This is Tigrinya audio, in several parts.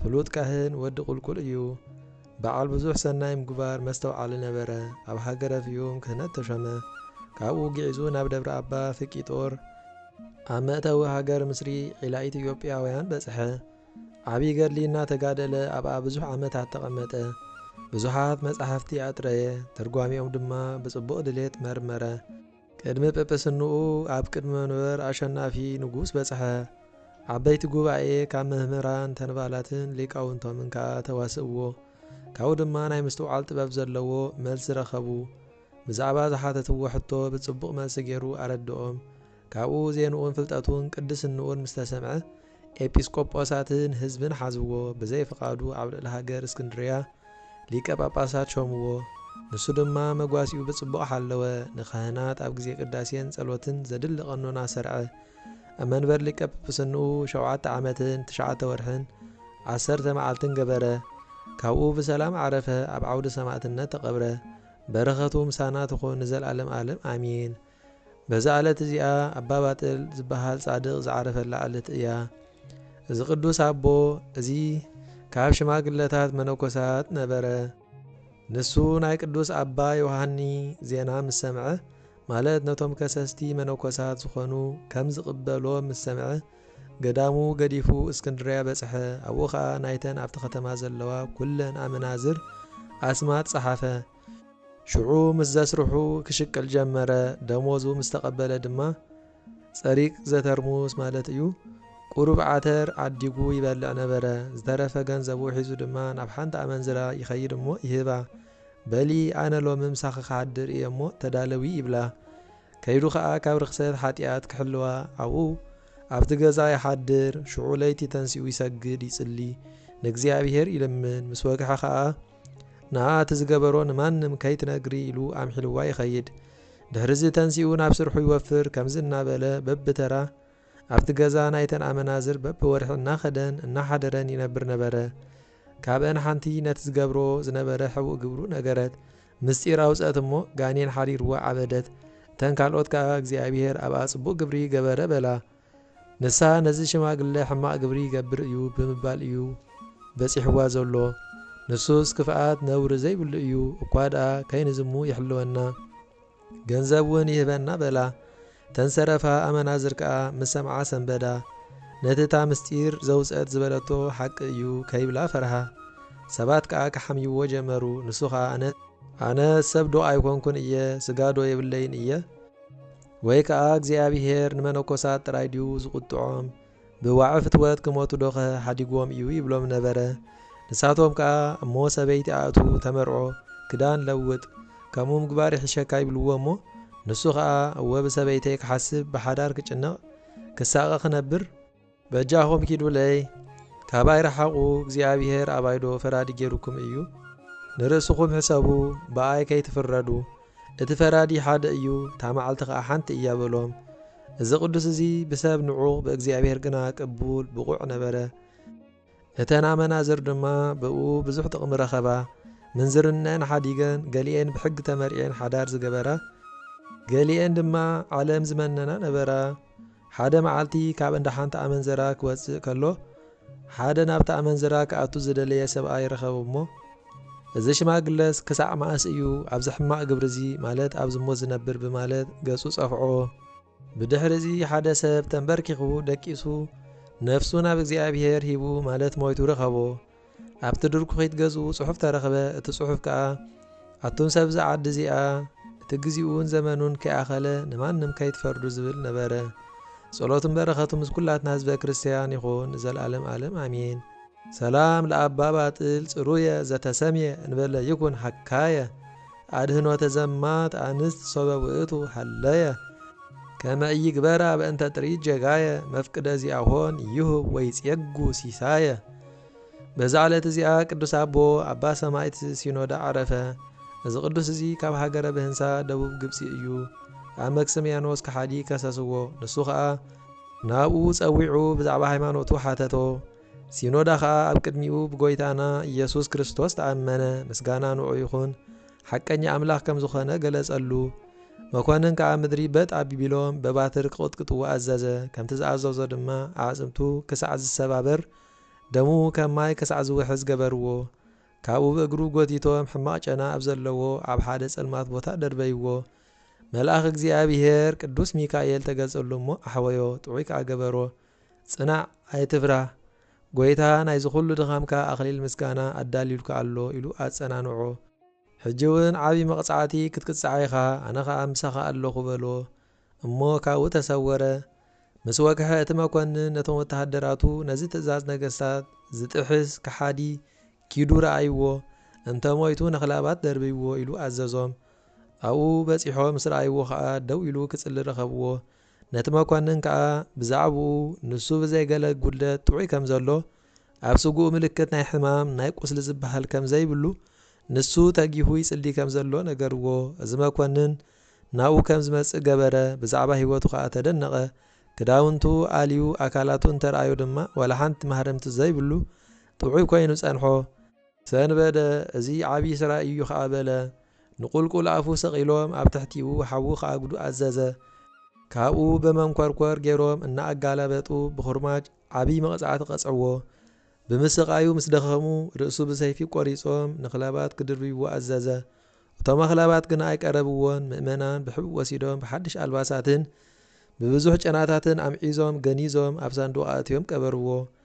ፍሉጥ ካህን ወዲ ቁልቁል እዩ። በዓል ብዙሕ ሰናይ ምግባር መስተውዓሊ ነበረ። ኣብ ሃገረ ፍዩም ክህነት ተሾመ። ካብኡ ግዒዙ ናብ ደብረ ኣባ ፍቂጦር። ኣብ መእተዊ ሃገር ምስሪ ዒላ ኢትዮጵያውያን በጽሐ። ዓቢ ገድሊ እናተጋደለ ኣብኣ ብዙሕ ዓመታት ተቐመጠ። ብዙሓት መጻሕፍቲ ኣጥረየ፣ ትርጓሜኦም ድማ ብጽቡቕ ድሌት መርመረ። ቅድሚ ጵጵስንኡ ኣብ ቅድሚ መንበር ኣሸናፊ ንጉስ በጽሐ። ዓበይቲ ጉባኤ ካብ መምህራን ተንባላትን ሊቃውንቶምን ከኣ ተዋስእዎ። ካብኡ ድማ ናይ ምስትውዓል ጥበብ ዘለዎ መልሲ ረኸቡ። ብዛዕባ ዝሓተትዎ ሕቶ ብጽቡቕ መልሲ ገይሩ ኣረድኦም። ካብኡ ዜንኡን ፍልጠቱን ቅድስንኡን ምስ ተሰምዐ፣ ኤጲስቆጶሳትን ህዝብን ሓዝዎ ብዘይ ፍቓዱ ኣብ ልዕሊ ሃገር እስክንድርያ ሊቀ ጳጳሳት ሾምዎ ንሱ ድማ መጓሲኡ ብጽቡቕ ሓለወ ንካህናት ኣብ ግዜ ቅዳሴን ጸሎትን ዘድሊ ቀኖና ሰርዐ ኣብ መንበር ሊቀ ጵጵስንኡ ሸውዓተ ዓመትን ትሽዓተ ወርሕን ዓሰርተ መዓልትን ገበረ ካብኡ ብሰላም ዓረፈ ኣብ ዓውደ ሰማእትነት ተቐብረ በረኸቱ ምሳና ትኹን ንዘልኣለም ኣለም ኣሜን በዛ ዕለት እዚኣ ኣባ ባጥል ዝበሃል ጻድቕ ዝዓረፈላ ዕለት እያ። እዚ ቅዱስ ኣቦ እዚ ካብ ሽማግለታት መነኮሳት ነበረ። ንሱ ናይ ቅዱስ ኣባ ዮሃኒ ዜና ምስ ሰምዐ፣ ማለት ነቶም ከሰስቲ መነኮሳት ዝኾኑ ከም ዝቕበሎም ምስ ሰምዐ፣ ገዳሙ ገዲፉ እስክንድርያ በጽሐ፣ ኣብኡ ኸኣ ናይተን ኣብቲ ከተማ ዘለዋ ኵለን ኣመናዝር ኣስማት ጸሓፈ። ሽዑ ምስ ዘስርሑ ክሽቅል ጀመረ፣ ደሞዙ ምስ ተቐበለ ድማ ጸሪግ ዘተርሙስ ማለት እዩ፣ ቁሩብ ዓተር ዓዲጉ ይበልዕ ነበረ፣ ዝተረፈ ገንዘቡ ሒዙ ድማ ናብ ሓንቲ ኣመንዝራ ይኸይድ እሞ ይህባ፣ በሊ ኣነ ሎሚ ምሳኺ ክሓድር እየ እሞ ተዳለዊ ይብላ፣ ከይዱ ከኣ ካብ ርኽሰት ሓጢኣት ክሕልዋ ኣብኡ ኣብቲ ገዛ ይሓድር፣ ሽዑ ለይቲ ተንሲኡ ይሰግድ ይጽሊ፣ ንእግዚኣብሄር ይልምን፣ ምስ ወግሐ ከኣ። ንኣ እቲ ዝገበሮ ንማንም ከይትነግሪ ኢሉ ኣምሒልዋ ይኸይድ። ድሕሪዚ ተንሲኡ ናብ ስርሑ ይወፍር ከምዚ እናበለ በብተራ ኣብቲ ገዛ ናይተን ኣመናዝር በብወርሒ እናኸደን እናሓደረን ይነብር ነበረ። ካብኣን ሓንቲ ነቲ ዝገብሮ ዝነበረ ሕቡእ ግብሩ ነገረት። ምስጢር ኣውጸት እሞ ጋኔን ሓሪርዋ ዓበደት። እተን ካልኦት ከኣ እግዚኣብሄር ኣብኣ ጽቡቕ ግብሪ ገበረ በላ። ንሳ ነዚ ሽማግለ ሕማቕ ግብሪ ይገብር እዩ ብምባል እዩ በጺሕዋ ዘሎ። ንሱስ ክፍኣት ነውሪ ዘይብሉ እዩ፣ እኳ ደኣ ከይንዝሙ ይሕልወና፣ ገንዘብ እውን ይህበና በላ። እተን ዝተረፋ ኣመናዝር ከኣ ምስ ሰምዓ ሰንበዳ። ነቲ እታ ምስጢር ዘውጽአት ዝበለቶ ሓቂ እዩ ከይብላ ፈርሃ። ሰባት ከኣ ክሓምይዎ ጀመሩ፣ ንሱ ኸኣ ኣነስ። ኣነስ ሰብዶ ኣይኰንኩን እየ፣ ስጋዶ የብለይን እየ? ወይ ከኣ እግዚኣብሄር ንመነኮሳት ጥራይ ድዩ ዝቑጥዖም? ብዋዒ ፍትወት ክሞቱዶኸ ሓዲግዎም እዩ ይብሎም ነበረ። ንሳቶም ከኣ እሞ ሰበይቲ ኣእቱ፣ ተመርዖ፣ ክዳን ለውጥ፣ ከምኡ ምግባር ይሕሸካ ይብልዎ እሞ ንሱ ከኣ እወ ብሰበይተይ ክሓስብ ብሓዳር ክጭነቕ ክሳቐ ክነብር፣ በጃኹም ኪዱለይ ካባይ ርሓቑ እግዚኣብሄር ኣባይዶ ፈራዲ ጌሩኩም እዩ ንርእስኹም ሕሰቡ ብኣይ ከይትፍረዱ እቲ ፈራዲ ሓደ እዩ እታ መዓልቲ ከኣ ሓንቲ እያ በሎም እዚ ቅዱስ እዚ ብሰብ ንዑቕ ብእግዚኣብሄር ግና ቅቡል ብቑዕ ነበረ እተን ኣመናዝር ድማ ብእኡ ብዙሕ ጥቕሚ ረኸባ። ምንዝርነኣን ሓዲገን፣ ገሊኤን ብሕጊ ተመርዕየን ሓዳር ዝገበራ፣ ገሊኤን ድማ ዓለም ዝመነና ነበራ። ሓደ መዓልቲ ካብ እንዳ ሓንቲ ኣመንዝራ ክወጽእ ከሎ፣ ሓደ ናብታ ኣመንዝራ ክኣቱ ዝደለየ ሰብኣይ ረኸቡ እሞ፣ እዚ ሽማግለስ ክሳዕ መኣስ እዩ ኣብዚ ሕማቕ ግብሪዚ፣ ማለት ኣብ ዝሙት ዝነብር? ብማለት ገጹ ጸፍዖ። ብድሕሪ'ዚ ሓደ ሰብ ተምበርኪኹ ደቂሱ ነፍሱ ናብ እግዚኣብሄር ሂቡ ማለት ሞይቱ ረኸቦ። ኣብቲ ድርኩኺት ገዝኡ ጽሑፍ ተረኽበ፣ እቲ ጽሑፍ ከኣ ኣቱም ሰብ'ዛ ዓዲ እዚኣ እቲ ግዚኡን ዘመኑን ከይኣኸለ ንማንም ከይትፈርዱ ዝብል ነበረ። ጸሎቱን በረኸቱን ምስ ኩላትና ህዝበ ክርስቲያን ይኹን ንዘልኣለም ኣለም ኣሜን። ሰላም ለኣባ ባጥል ጽሩየ ዘተሰምየ እንበለ ይኩን ሐካየ ኣድህኖተ ዘማት ኣንስት ሶበ ውእቱ ሀለየ ከመ ኢይግበራ በእንተ ጥሪት ጀጋየ መፍቅደ ዚኣሆን ይሁብ ወይጼጉ ሲሳየ በዛ ዕለት እዚኣ ቅዱስ ኣቦ ኣባ ሰማይት ሲኖዳ ዓረፈ። እዚ ቅዱስ እዚ ካብ ሃገረ ብህንሳ ደቡብ ግብጺ እዩ። ኣብ መክስምያኖስ ከሓዲ ከሰስዎ፣ ንሱ ኸኣ ናብኡ ጸዊዑ ብዛዕባ ሃይማኖቱ ሓተቶ። ሲኖዳ ኸኣ ኣብ ቅድሚኡ ብጐይታና ኢየሱስ ክርስቶስ ተኣመነ፣ ምስጋና ንዕኡ ይኹን፣ ሓቀኛ ኣምላኽ ከም ዝዀነ ገለጸሉ። መኰንን ከኣ ምድሪ በጥ ኣቢቢሎም በባትር ክቕጥቅጥዎ ኣዘዘ፣ ከምቲ ዝኣዘዞ ድማ ኣዕጽምቱ ክሳዕ ዝሰባበር፣ ደሙ ከም ማይ ክሳዕ ዝውሕዝ ገበርዎ። ካብኡ ብእግሩ ጐቲቶም ሕማቕ ጨና ኣብ ዘለዎ ኣብ ሓደ ጸልማት ቦታ ደርበይዎ። መልኣኽ እግዚኣብሔር ቅዱስ ሚካኤል ተገልጸሉ እሞ ኣሕወዮ፣ ጥዑይ ከኣ ገበሮ። ጽናዕ ኣይትፍራህ ጎይታ ናይዚ ኩሉ ድኻምካ ኣኽሊል ምስጋና ኣዳልዩልካ ኣሎ ኢሉ ኣጸናንዖ። ሕጂ ውን ዓቢ መቕጻዕቲ ክትቅጻዕ ኢኻ ኣነ ኸኣ ምሳኻ ኣለኹ በሎ። እሞ ካብኡ ተሰወረ። ምስ ወግሐ እቲ መኮንን ነቶም ወተሃደራቱ ነዚ ትእዛዝ ነገስታት ዝጥሕስ ከሓዲ ኪዱ ረኣይዎ እንተ ሞይቱ ነኽላባት ደርብይዎ ኢሉ ኣዘዞም። ኣብኡ በጺሖ ምስ ረኣይዎ ኸኣ ደው ኢሉ ክጽሊ ረኸብዎ። ነቲ መኮንን ከኣ ብዛዕብኡ ንሱ ብዘይ ገለ ጉድለት ጥዑይ ከም ዘሎ፣ ኣብ ስግኡ ምልክት ናይ ሕማም ናይ ቁስሊ ዝበሃል ከም ዘይብሉ፣ ንሱ ተጊሁ ይጽሊ ከም ዘሎ ነገርዎ። እዚ መኮንን ናብኡ ከም ዝመጽእ ገበረ፣ ብዛዕባ ህይወቱ ከኣ ተደነቐ። ክዳውንቱ ኣልዩ ኣካላቱ እንተ ረኣዮ ድማ ዋላ ሓንቲ ማህረምቲ ዘይብሉ ጥዑይ ኮይኑ ጸንሖ። ሰንበደ፣ እዚ ዓብዪ ስራይ እዩ ኸኣ በለ። ንቝልቍል ኣፉ ሰቒሎም ኣብ ትሕቲኡ ሓዊ ኺኣጕዱ ኣዘዘ። ካብኡ ብመንኰርኰር ገይሮም እናኣጋላበጡ ብዅርማጅ ዓብዪ መቕጻዕቲ ቐጽዕዎ። ብምስቓዩ ምስ ደኸሙ፣ ርእሱ ብሰይፊ ቈሪጾም ንኽላባት ኪድርብይዎ ኣዘዘ። እቶም ኣኽላባት ግና ኣይቀረብዎን። ምእመናን ብሕቡእ ወሲዶም ብሓድሽ ኣልባሳትን ብብዙሕ ጨናታትን ኣምዒዞም ገኒዞም ኣብ ሳንዱቕ ኣእትዮም ቀበርዎ።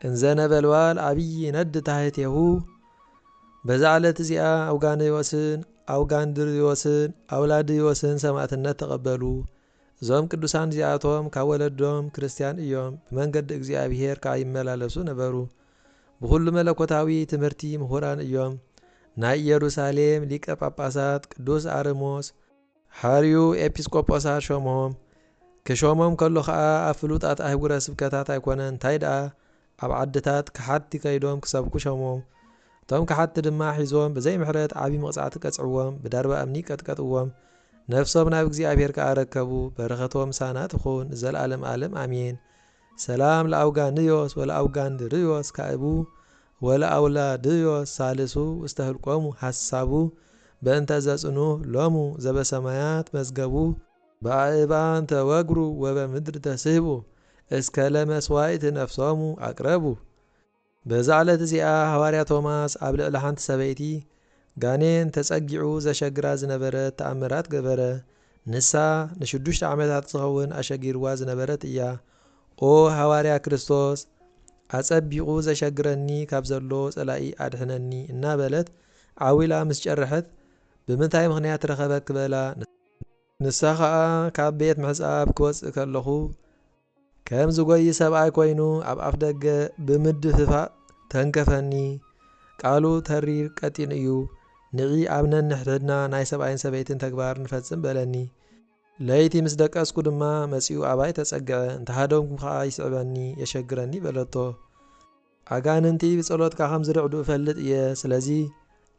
እንዘ ነበልባል ዓቢይ ይነድድ ታሕቴሁ። በዛ ዕለት እዚኣ ኣውጋንዮስን ኣውጋንድርዮስን ኣውላድዮስን ሰማእትነት ተቐበሉ። እዞም ቅዱሳን እዚኣቶም ካብ ወለዶም ክርስትያን እዮም፣ ብመንገዲ እግዚኣብሔር ከኣ ይመላለሱ ነበሩ። ብኹሉ መለኮታዊ ትምህርቲ ምሁራን እዮም። ናይ ኢየሩሳሌም ሊቀ ጳጳሳት ቅዱስ ኣርሞስ፣ ሓርዩ ኤጲስቆጶሳት ሾምሆም። ክሾሞም ከሎ ከኣ ኣብ ፍሉጣት ኣህጉረ ስብከታት ኣይኮነን እንታይ ደኣ ኣብ ዓድታት ከሓድቲ ከይዶም ክሰብኩ ሾሞም። እቶም ከሓድቲ ድማ ሒዞም ብዘይ ምሕረት ዓቢ መቕጻዕቲ ቀጽዕዎም ብዳርባ እምኒ ቀጥቀጥዎም ነፍሶም ናብ እግዚኣብሔር ከኣ ኣረከቡ በረኸቶም ምሳና ትኹን ንዘልኣለም ኣለም ኣሜን ሰላም ለኣውጋንዮስ ወለኣውጋንድርዮስ ካእቡ ወለኣውላድዮ ሳልሱ ውስተ ህልቆሙ ሐሳቡ በእንተ ዘጽኑህ ሎሙ ዘበሰማያት መዝገቡ። በኣእባን ተወግሩ ወበምድር ተስህቡ እስከ ለመሥዋዕት ነፍሶሙ ኣቅረቡ። በዛ ዕለት እዚኣ ሐዋርያ ቶማስ ኣብ ልዕሊ ሓንቲ ሰበይቲ ጋኔን ተጸጊዑ ዘሸግራ ዝነበረት ተኣምራት ገበረ። ንሳ ንሽዱሽተ ዓመታት ዝኸውን ኣሸጊርዋ ዝነበረት እያ። ኦ ሃዋርያ ክርስቶስ፣ ኣጸቢቑ ዘሸግረኒ ካብ ዘሎ ጸላኢ ኣድሕነኒ እናበለት ዓው ኢላ ምስ ጨርሐት፣ ብምንታይ ምኽንያት ረኸበኪ በላ። ንሳ ኸኣ ካብ ቤት ምሕጻብ ክወጽእ ከለኹ ከም ዝጎዪ ሰብኣይ ኮይኑ ኣብ ኣፍደገ ብምድፍፋእ ተንከፈኒ፣ ቃሉ ተሪር ቀጢን እዩ፣ ንዒ ኣብ ነንሕድሕድና ናይ ሰብኣይን ሰበይትን ተግባር ንፈጽም በለኒ። ለይቲ ምስ ደቀስኩ ድማ መጺኡ ኣባይ ተጸግዐ፣ እንተሃደምኩ ከኣ ይስዕበኒ፣ የሸግረኒ በለቶ። ኣጋንንቲ ብጸሎትካ ከም ዝርዕዱ እፈልጥ እየ፣ ስለዚ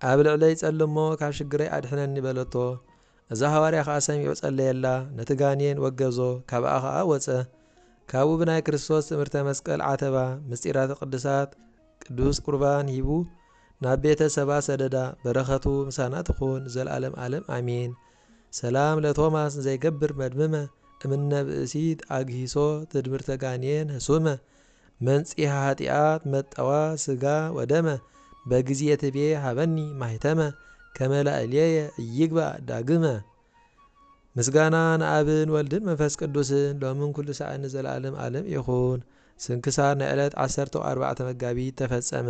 ኣብ ልዕለይ ጸሊ እሞ ካብ ሽግረይ ኣድሕነኒ በለቶ። እዚ ሃዋርያ ኸኣ ሰሚዑ ጸለየላ፣ ነቲ ጋኔን ወገዞ፣ ካብኣ ኸኣ ወጸ። ካብኡ ብናይ ክርስቶስ ትእምርተ መስቀል ዓተባ፣ ምስጢራተ ቅድሳት፣ ቅዱስ ቁርባን ሂቡ ናብ ቤተ ሰባ ሰደዳ፣ በረኸቱ ምሳና ትኹን ንዘልኣለም ኣለም ኣሜን። ሰላም ለቶማስ እንዘይገብር መድምመ እምነ ብእሲት ኣግሂሶ ትድምርተ ጋኔን ህሱመ መንጽሔ ኃጢኣት መጠዋ ሥጋ ወደመ በጊዜ ትቤ ሀበኒ ማኅተመ ከመ ላዕሌየ ኢይግባእ ዳግመ። ምስጋና ንኣብን ወልድን መንፈስ ቅዱስን ሎምን ኩሉ ሳዕን ንዘለዓለም ዓለም ይኹን። ስንክሳር ናይ ዕለት ዓሰርተው ኣርባዕተ መጋቢት ተፈጸመ።